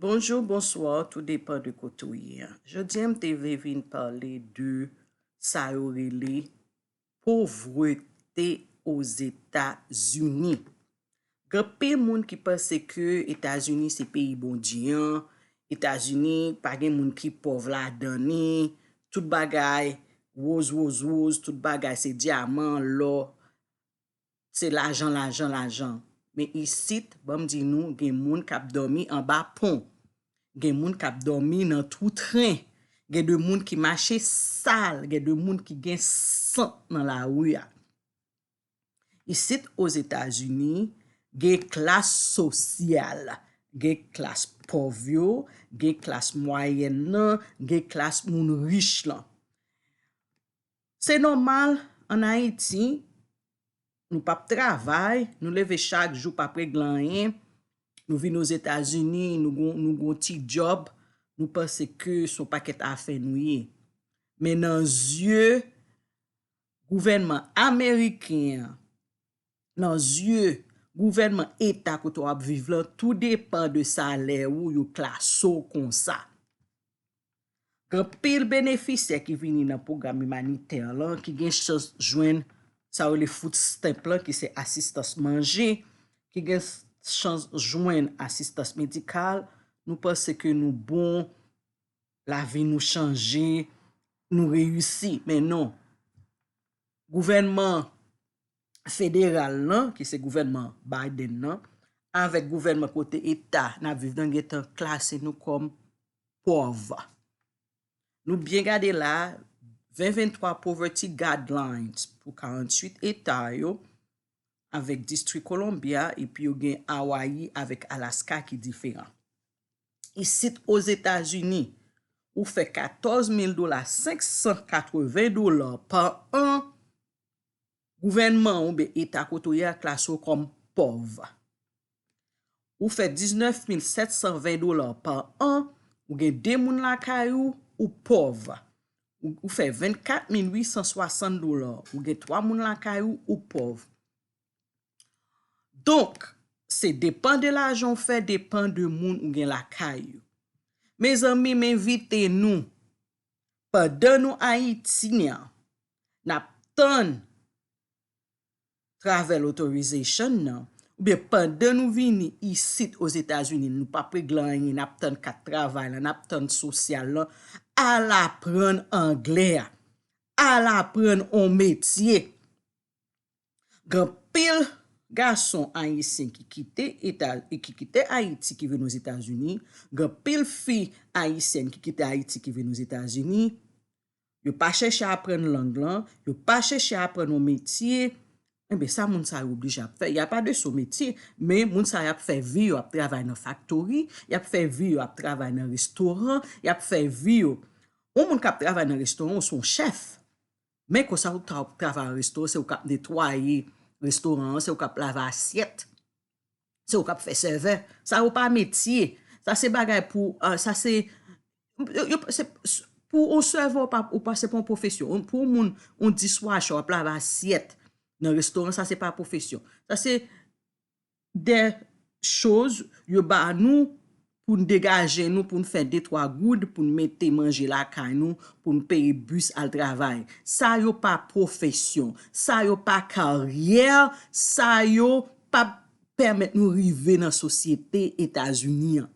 Bonjour bonsoir tou depan de kote ou ye an jodi an m te vle vin pale de sa yo rele povrete ozeta zini gen anpil moun ki panse ke etazini se peyi bondye an etazini pa gen moun ki pòv la dan ni tout bagay woz woz woz tout bagay se dyaman lò se lajan lajan lajan men isit banm di nou gen moun kap dòmi anba pon gen moun kap dòmi nan twou tren gen de moun ki mache sal gen de moun ki gen sant nan lari a isit ozetazini gen klas sosyal gen klas pòv yo gen klas mwayèn nan gen klas moun rich lan Se nòmal an Ayiti, nou pap travay, nou leve chak jou pap regle anyen, nou vin Ozetazini, nou gon nou gon ti djòb, nou panse ke se yon pakèt afè nou ye. Men nan zye gouvènman ameriken an, nan zye gouvènman eta kote w ap viv lan, tou depan de salè ou yo klase w konsa. Gen anpil benefisyè ki vini nan pwogram imanitè lan ki gen chans jwenn sa yo rele food stamp lan ki se asistans manje, ki gen chans jwenn asistans medikal, nou panse ke nou bon, lavi nou chanje, nou reyisi, men non. Gouvènman federal lan, ki se gouvènman Biden nan, avèk gouvènman kote eta n ap viv nan gentan klase nou kòm pòv. Nou byen gade la a, 2023 Poverty Guidelines pou 48 eta yo avèk Distri Columbia epi yo gen Hawaii avèk Alaska ki diferan. Isit Ozetazini, ou fè 14 mil dola, 580 dola pa an Gouvènman ou ben eta kote ou ye a klase ou kòm pòv. Ou fè 19720 dola pa an, ou gen 2 moun lakay ou, ou pòv. Ou fè 24860 dola, ou gen 3 moun lakay ou, ou pòv. Donk, se depan de lajan ou fè, depan de moun ou gen lakay ou. Mezanmi, m envite nou. pandan nou Ayiti an nap tann travel authorization nan oubyen pandan nou vini isit Ozetazini nou pap regle anyen nap tann kat travay lan nap tann sosyal lan al aprann anglè a al aprann on metye Gen anpil gason ayisyen ki kite eta ki kite ayiti ki vin ozetazini gen anpil fi ayisyèn ki kite ayiti ki vin ozetazini yo pa chèche aprann lang lan yo pa chèche aprann yon metye enben sa moun sa yo oblije ap fè ya pa de sou metye men moun sa yo ap fè vi yo ap travay nan faktori yap fè vi yo ap travay nan restoran yap fè vi yo yon moun kap travay nan restoran ou son chèf Men konsa ou ta ap travay an resto, se ou kap netwaye restoran an, se ou kap lave asyèt, se ou kap fè sèvè, sa yo pa metye, sa se bagay pou, sa se, yo pa, se, pou yon sèvè ou pa, ou pa, se pa yon pwofesyon, pou yon moun, yon diswashe wap lave asyèt nan restoran, sa se pa pwofesyon, sa se, de choz yo ba nou pou n degaje nou pou n fè de twa goud pou n mete manje lakay nou pou n peye bis al travay sa yo pa pwofesyon sa yo pa karyè sa yo p ap pèmèt nou rive nan sosyete etazini an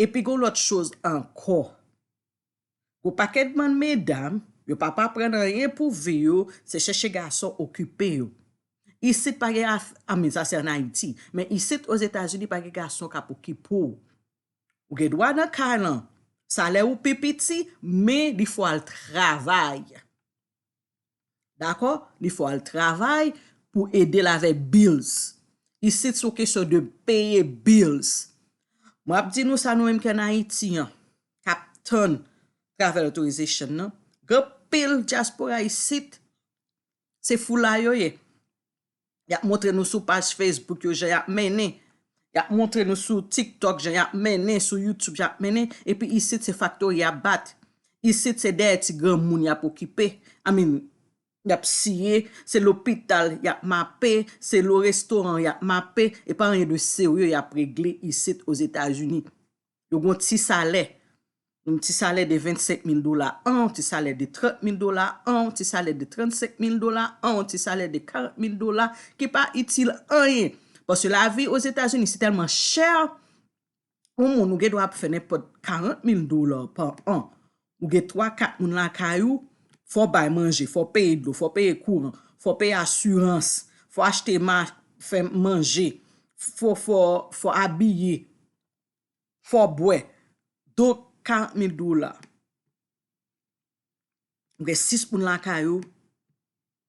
epi gen yon lòt choz ankò Gwo pakèt bann medam yo pa p aprann anyen pou vi yo se chèche gason okipe yo. Isit pa gen af, anmweyy sa se an Ayiti, men isit Ozetazini pa gen gason k ap okipe w. Ou gen dwa nan kay lan, salè ou pi piti men li fò al travay. Dakò? Li fè w al travay pou ede l avèk bills. Isit se yon kesyon de peye bills. M ap di nou sa nou menm ki ann Ayiti an, k ap tann travel authorization nan, gen anpil dyaspora isit, se foulay yo ye. y ap montre nou sou paj Facebook yo jan y ap mennen, y ap montre nou sou TikTok jan y ap mennen, sou YouTube jan y ap mennen, epi isit se faktori y ap bat, isit se dèyè ti granmoun y ap okipe, I mean, y ap siye, se lopital y ap mape, se lo restoran y ap mape, e pa anyen de serye y ap regle isit Ozetazini. Yo gen yon ti salè, yon ti salè de 25 mil dola an, yon ti salè de 30 mil dola an, yon ti salè de 35 mil dola an, yon ti salè de 40 mil dola ki pa itil anyen. Paske lavi Ozetazini si tèlman chè, yon moun ou gen dwa ap fè nenpòt 40 mil dola pa an. Ou gen 3, 4 moun lakay ou, fò bay manje, fò peye dlo, fò peye kouran, fò peye asirans, fò achte ma, fè manje, fò abiye. fò w bwè don 40 mil dola m gen 6 moun lakay ou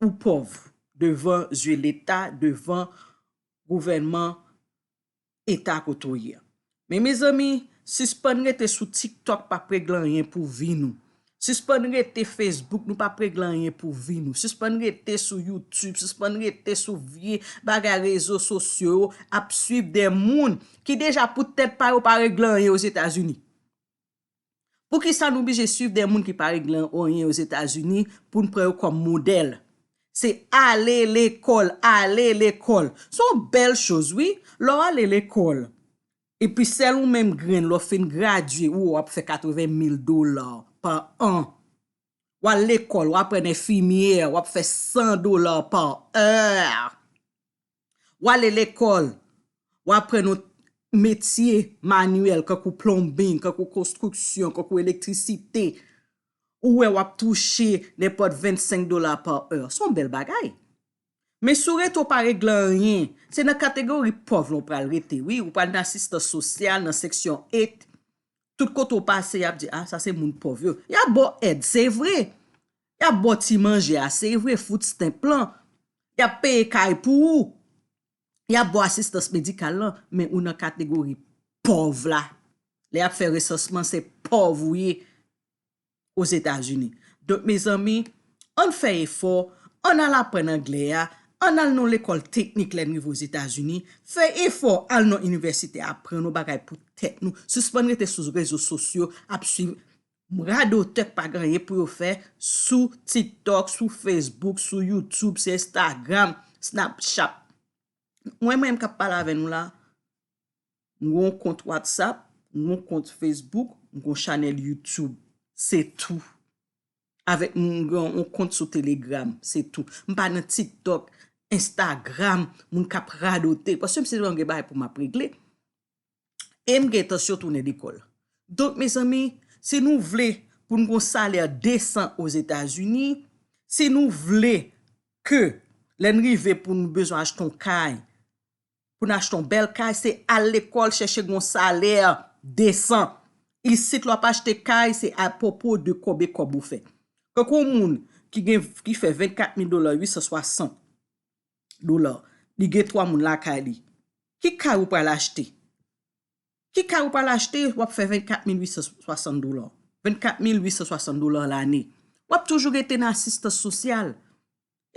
ou pòv devan zye leta devan gouvènman eta kote w ye men mezanmi sispann rete sou tiktok pa p regle anyen pou vi nou Sispann rete Facebook nou pap regle anyen pou vi nou sispann rete sou YouTube sispann rete sou vye bagay rezo sosyo yo ap swiv de moun ki deja pou tèt pa yo pa regle anyen ozetazini poukisa nou blije swiv de moun ki pa regle anyen ozetazini poun pran yo kòm modèl se ale lekòl ale lekòl son bèl choz wi lè w ale lekòl Epi sèl ou menm grenn lè w fin gradye ou ap fè 80 mil dola pa an. W al lekòl, w aprann enfimyè, w ap fè 100 dola pa è. W ale lekòl, w aprann yon metye manyèl kankou plonbing, kankou konstriksyon, kankou elektrisite, ou wè w ap touche nenpòt 25 dola pa è. S on bèl bagay. Men si w rete w pa regle anyen, se nan kategori pòv lan w pral rete wi, ou pral nan asistans sosyal, nan seksyon 8, tout kote w pase y ap di a sa se moun pòv yo, y ap ba w èd se vre, y ap ba w ti manje a se vre, food stamp lan, y ap peye kay pou ou, y ap ba w asistans medikal lan, men ou nan kategori pòv la, lè y ap fè resansman se pòv ou ye. Ozetazini. Donk mezanmi, ann fè efò, ann al aprann anglè a, ann al nan yon lekòl teknik lè n rive Ozetazini, fè efò al nan inivèsite aprann yon bagay pou tèt nou, sispann rete sou rezo sosyo ap suiv radotè k pa gen anyen pou yo fè sou TikTok, sou Facebook, sou YouTube, sou Instagram, Snapchat. Mwen menm k ap pale avè nou la, M gen yon kont WhatsApp, m gen yon kont Facebook, m gen yon chanèl YouTube. Se tou. Avèk m gen yon kont sou Telegram. Se tou. M pa nan TikTok, Instagram, moun k ap radote. Paske m se yon gen bagay pou m ap regle. E m gen entansyon tounen lekòl. Donk mezanmi, si nou vle pou n gen yon salè desan Ozetazini, si nou vle ke lè n rive pou n bezwen achte yon kay, pou n achte yon bèl kay se al lekòl chèche gen yon salè desan. Isit lè w ap achte kay se a pwopo de konbe kòb ou fè. Tankou yon moun ki gen ki fè 24 mil dola, 860 dola, li gen 3 moun lakay li, ki kay ou pral achte? Ki kay ou pral achte w ap fè 24 mil 860 dola? 24 mil 860 dola lane. W ap toujou rete nan asistans sosyal.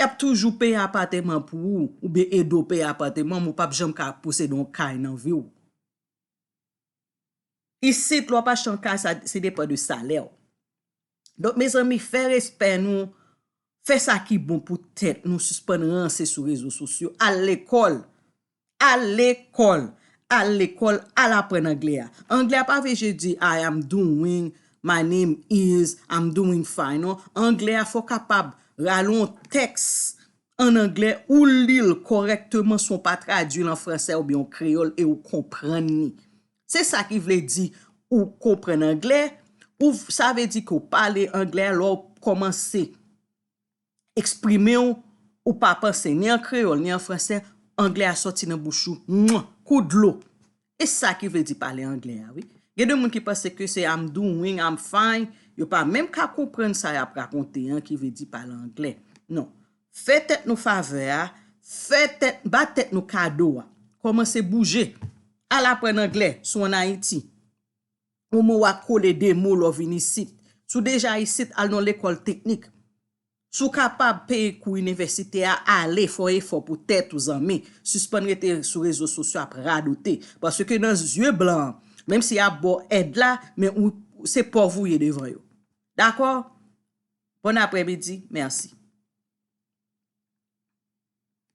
Yap toujou peye apateman pou ou oubyen ede w peye apateman men w pap janm ka posede yon kay nan vi w. Isit lè w ap achte yon kay sa se depan de salè w. Donk mezanmi fè respè nou, fè sa ki bon pou tèt nou sispann ranse sou rezo sosyo, al lekòl. Al lekòl! Al lekòl, al aprann anglè a. Anglè a pa vle je di I am doing, my name is, I'm doing fine non. Anglè a fè w kapab rale yon tèks an anglè, ou li l kòrèkteman san w pa tradui l an fransè oubyen an kreyòl e ou konprann li. Se sa ki vle di ou konprann anglè, ou sa vle di ke w pale anglè a lè w kòmanse eksprimew ou pa panse ni an kreyol ni an fransè anglè a soti nan bouch ou mwa kou dlo e sa ki vle di pale anglè a wi gen de moun ki panse ke se am doing am fine yo pa menm ka konprann sa yap rakonte an ki vle di pale anglè non fè tèt nou favè a fè tèt ba tèt nou kado a komanse bouje al aprann anglè si w an ayiti. Ou mou wa kole de mou lò vin isit. Si w deja isit, al nan lekòl teknik. Si w kapab peye kou inivèsite a, ale, fè w efò pou tèt ou zanmi. Sispann rete sou rezo sosyo ap radote. Paske nan zye blan an, menm si y ap ba w èd la, men ou, se pòv ou ye devan yo. Dakò? Bòn aprèmidi. Mèsi.